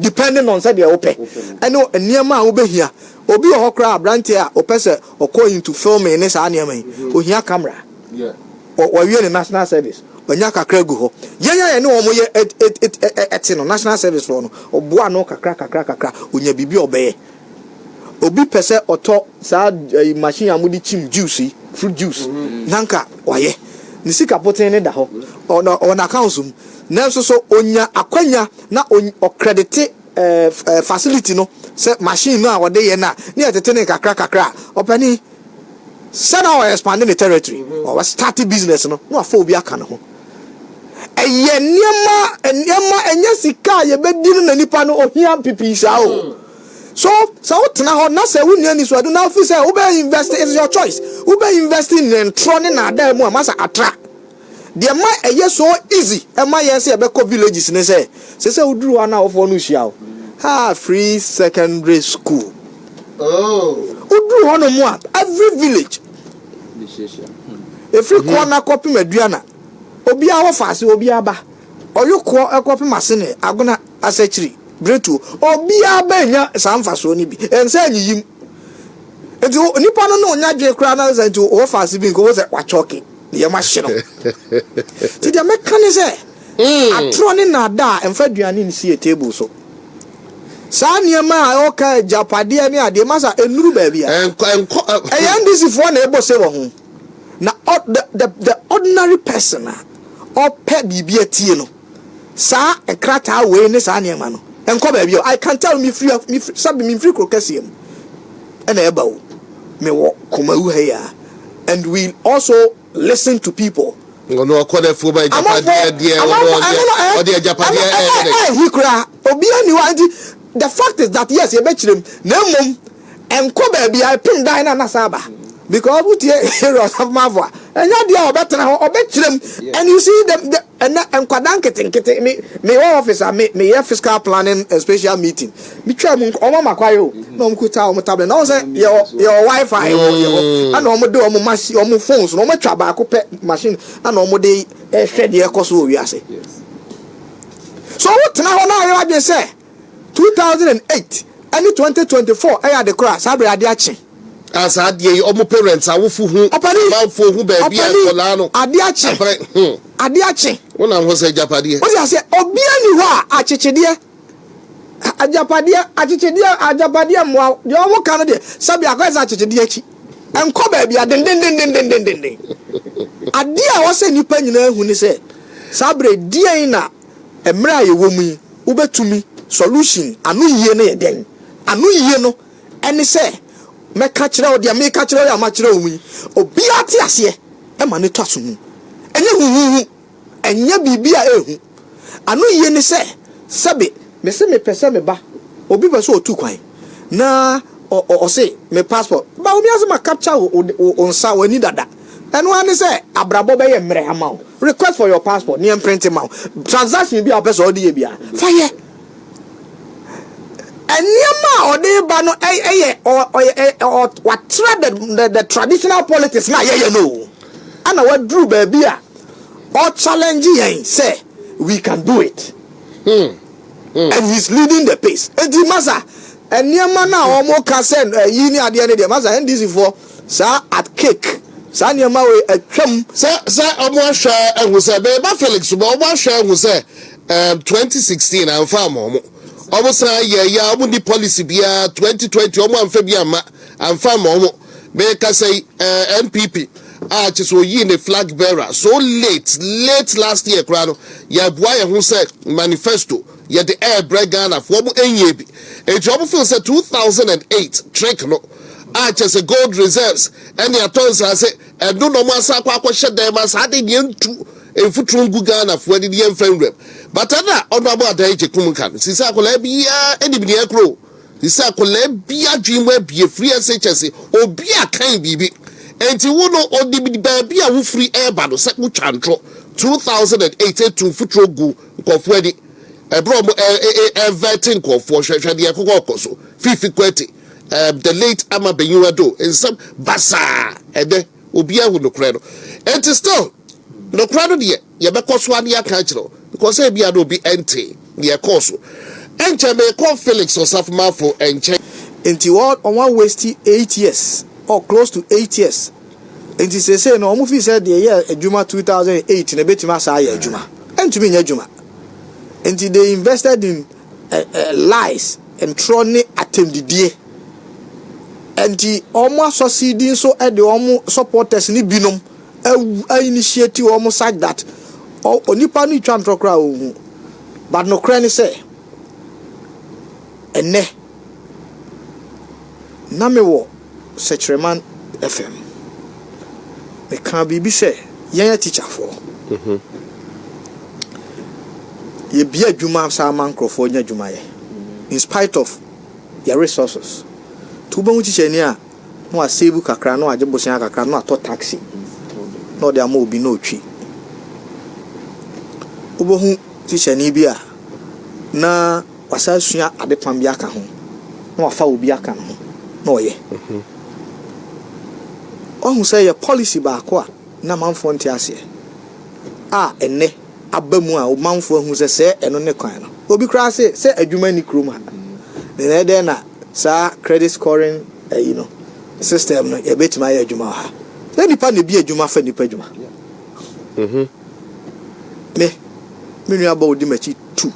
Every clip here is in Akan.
depending on sɛdeɛ wopɛ ɛne nneɛma a wobɛhia obi wɔ hɔ koraa aberanteɛ a ɔpɛ sɛ ɔkɔ into filming ne saa nneɛma yi ɔhia camera wɔwie ne national service ɔnya kakra gu hɔ yɛn a yɛne wɔn yɛ ɛte no national service foɔ no ɔboa no kakra kakra kakra ɔnya biribi a ɔbɛyɛ obi pɛ sɛ ɔtɔ saa machine a mode kyim juice yi fruit juice nanka wayɛ ne sika poten ne da hɔ ɔna accounts mu Nanso so onya akwanya na ɔkredite fasiliti no sɛ machine no a ɔde yɛ no a na yɛtete no nkakrakakra a? Ɔpanin, sɛ na ɔɔ expande ne territory, ɔɔ starte business no, na wafa obi aka ne ho. Ɛyɛ nneɛma, nneɛma, ɛnyɛ sika a yɛbɛdi no na nipa no ohia pipii saa o. So, sɛ wotena hɔ na sɛ wonni anisoadehu na wufi sɛ wobɛ invest, it's your choice, wobɛ invest nnɛntorɔ ne nnaadaa mu a, masa atra. Deɛ ɛma ɛyɛ so easy ma yɛn sɛ yɛbɛkɔ villages ne sɛ, sɛ sɛ woduru hɔ a na awofoɔ no rehyia wo. Haa free secondary school. Woduru hɔnom a, every village, ɛfiri Koana kɔpem Aduana, obiara wɔ faase, obiara ba. Ɔyokoɔ kɔpem Asene, Agona. asekyiri bere tuo. Obiara benya saa mfasoɔ no bi. Ɛnsɛ nyiyim. Nti nipa no na ɔnya dwene koraa na sɛ nti wɔfa ase bi nka wɔn sɛ wakyɔke nneɛma ahye no. Nti deɛ mɛka ne sɛ atorɔ ne nnaadaa mfa aduane nsi yɛ table so. Saa nneɛma a ɔka agyapadeɛ ne adeɛ masa ɛnnuru baabi a. Ɛyɛ NDC foɔ na ɛbɔ se wɔ ho. Na the the the ordinary person a ɔpɛ biribi atie no. Saa nkrataa wei ne saa nneɛma no nkɔ baabi a I can tell mefiri a mefiri sɛbi mefiri kuro kɛseɛ mu ɛna ɛba o mewɔ Kumawu ha yi a and we also listen to people. Ɔno ɔkɔ dɛ fo ba agyapadeɛ deɛ ɔno ɔde agyapadeɛ ɛyɛ dɛ. Ɛhi koraa obiara ni hɔ a nti the fact is that yes yɛbɛkyerɛ mu na mmom ɛnkɔ baabi a ɛpem dan na na saa ba because wotie Aaron Asamoah a ɛnyɛ adeɛ a ɔbɛtena hɔ ɔbɛkyerɛ mu and you see the, the Ɛnɛ nkwadaa nketenkete me me wɔ office a me meyɛ fiscal planning and special meeting me twaa mu wɔn ama kwae o na wɔn kuta wɔn tablet na wɔn sɛ yɛ wɔ yɛ wɔ wifi wɔ yɛ hɔ ɛna wɔn de wɔn machine wɔn phones na wɔn atwa baako pɛ machine ɛna wɔn de ɛhwɛ deɛ ɛkɔ so wɔ wiase so wotena hɔ na ayɛ wadwene sɛ Two thousand and eight ɛne twenty twenty four ɛyɛ ade koro a saa bere ade akye. Ah saa adeɛ yi ɔmo parents awofo hu Ɔpani! amanfoɔ hu baabi a Ɔpani! nkɔlaa no Ade akye! apere hmm Ade akye! wonam hɔ sɛ agyapadeɛ. Wote aseɛ? Obiara nni hɔ a akyekyedeɛ, a, agyapadeɛ, akyekyedeɛ, agyapadeɛ mmoa wo. Deɛ wɔka no deɛ, sɛbi akɔyɛ sɛ akyekyedeɛ akyi. Ɛnkɔ baabi a dendendendendenden. Adeɛ a ɛwɔ sɛ nnipa nyinaa hu ne sɛ, saa bere yi, deɛn na Mmere a yɛwɔ mu yi, wobɛtumi solution ano yie no yɛ dɛn? Ano yie no ne sɛ mɛka kyerɛ wo deɛ meka kyerɛ wo yi a makyerɛ wo mu yi, obiara te aseɛ ɛma no tɔ asomu. Ɛnyɛ huhuhu, ɛnyɛ biribi a ɛhu. Ano yie ne sɛ, sɛbe. Mese mepɛ sɛ meba, obi pɛ sɛ ɔtu kwan. na ɔ ɔ ɔse me passport ba wo wiase ma capture wo wo wo nsa w'ani dada ɛno ara ne sɛ abrabɔ bɛyɛ mmerɛ ama wo request for your passport ne ɛmprente ma wo transaction bi a wopɛ sɛ ɔde yɛ bia fa yɛ nneɛma a ɔde ba no ɛyɛ ɔ ɔ ɔ watra the, the, the traditional politics na yɛyɛ no o ana waduru baabi a ɔ challenge yɛn sɛ we can do it hmm. and he's leading the pace enti masa nneɛma no a wɔn ka sɛ ayi ne adeɛ no deɛ masa NDC foɔ saa at cake saa nneɛma wei atwam. Sɛ sɛ wɔn ahwɛ ahu sɛ bɛɛba Felix so bɛ wɔn ahwɛ ahu sɛ ɛɛm 2016 anfa ama wɔn wɔn san yɛ yɛ a wɔn ni policy biara 2020 wɔn anfa bi amma anfa ama wɔn. Merekasa yi, eh, NPP, a kyerɛ sɛ oyii ne flag bearer so late, late last year koraa no, yɛaboa yɛn ho sɛ manifesto yɛde ɛrebrɛ Ghanafoɔ, wɔn ɛnyɛɛ bi. Enti wɔn feel sɛ 2008 trick no, a kyerɛ sɛ gold reserves ɛne atɔ nsaase, ɛno na wɔn asan akɔ akɔhyɛ dan ma saa de deɛ ntu mfuturo ngu Ghanafoɔ ani ne yɛmfa nwuram. But ɛna Honourable Adai Gyekum ka no, sisi akwadaa biara nim deɛ ɛkorɔ o. Te sɛ akwadaa bi adwene mu abue firi ase kyɛ se obi a kan biribi nti wo no onim baabi a wo firi reba no sɛ wo twa ntoro 2008 etu mfuturo gu nkurɔfoɔ ani ɛberɛ ɔmo ɛvɛte nkurɔfoɔ hwɛ hwɛ deɛ ɛkɔkɔ kɔ so fifi kwati um, the late ama benyiwa do nsɛm basaa ɛnɛ obi ahu nokorɛ no nti still nokorɛ no deɛ yɛbɛkɔ so a ne yɛaka akyerɛ wo because ebia na obi ntee nea ɛkɔɔ so. Ɛnkyɛ merekɔ Felix Osafomafo nkyɛn. Nti wɔn wɔn a waste eight years or close to eight years nti seesei no wɔn feel sɛ deɛ ɛyɛɛ adwuma two thousand and eight no ebetumi asan ayɛ adwuma. Ɛntumi nyɛ adwuma. Nti they invested in eh, eh, lies, ntorɔ ne atɛmdidie. Nti wɔn asɔsidi nso de wɔn supporters no binom awu a initiate wɔn such that onipa no retwa ntorɔ koraa a ɔnhu. But nokorɛ ne sɛ, ɛnnɛ, na mewɔ Sɛkyerɛman FM. Mekaa biribi sɛ, yɛn atikyafoɔ, yɛbue adwuma saa ma nkorɔfoɔ nya adwuma yɛ in spite of yɛn resources. Nti wobɛhu tikyanyi a, na ɔasave kakra, na ɔagye bosea kakra, na ɔatɔ taxi na ɔdze ama obi na otwi. Obohu tikyani bi a na ɔasan asua adepam bi aka ho, na ɔafa obi aka no ho na ɔyɛ. Ɔahu sɛ yɛ policy baako a nna mamfoɔ nntse aseɛ a ɛnnɛ aba mu a mamfoɔ ahu sɛ sɛɛ ɛno ne kwan no. Obi koraa se sɛ adwuma nni kurom ha, na ɛyɛ dɛn na saa credit scoring ɛyi no system no yɛbɛtumi ayɛ adwuma wɔ ha na nipa na bi adwuma fa nipa adwuma mhm. me me nua bɔ odi m'akyi tu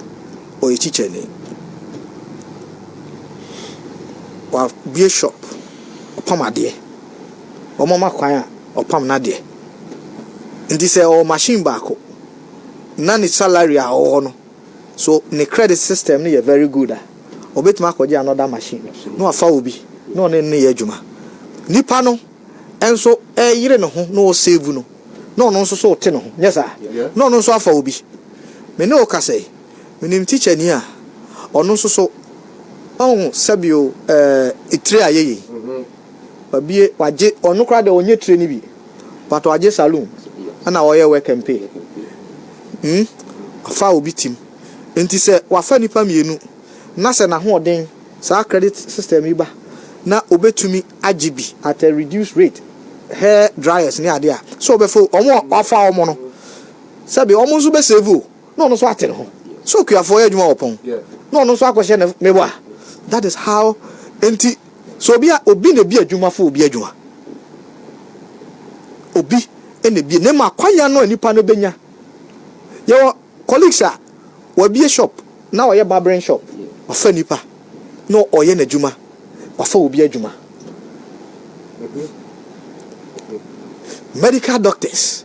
ɔyɛ kyikyɛni wabue shop ɔpam adeɛ wɔn ama kwan a ɔpam n'adeɛ nti sɛ ɔwɔ machine baako na ne salary a ɔwɔ no So ne credit system no yɛ very good a, ɔbɛtumi akɔgye another machine na wafa wo bi na ɔne no no yɛ adwuma. Nipa no nso reyere ne ho na ɔresave no na ɔno nso so rete ne ho, nyɛ saa? Na ɔno nso afa wo bi. Me ne wo kasa yi, menim tikyani a ɔno nso so ɔho sɛ bi o, eh, tire ayɛ yei. Wabue, wagye, ɔno koraa deɛ ɔnyɛ tire no bi. Pato agye saloon na ɔyɛ work and pay hmm afa obi tim nti sɛ wafa nipa mmienu na sɛ nahoɔden saa credit system yi ba na obetumi agye bi at a reduced rate hair dryers ne ade a sɛ ɔbɛfa wɔn a wafa wɔn no sɛbi wɔn nso bɛ save o. na ɔno nso ate ne ho sɛ okuafoɔ yɛ adwuma wɔ pɔn na ɔno nso akɔhyɛ ne me wa that is how enti sɛ obi a obi na ebi adwuma fo obi adwuma obi na ebi na ma kwanya no a nipa no benya yɛwɔ colleagues a wɔabie shop na ɔyɛ barbering shop ɔfa nipa na ɔyɛ n'adwuma ɔfa obi adwuma medical doctors.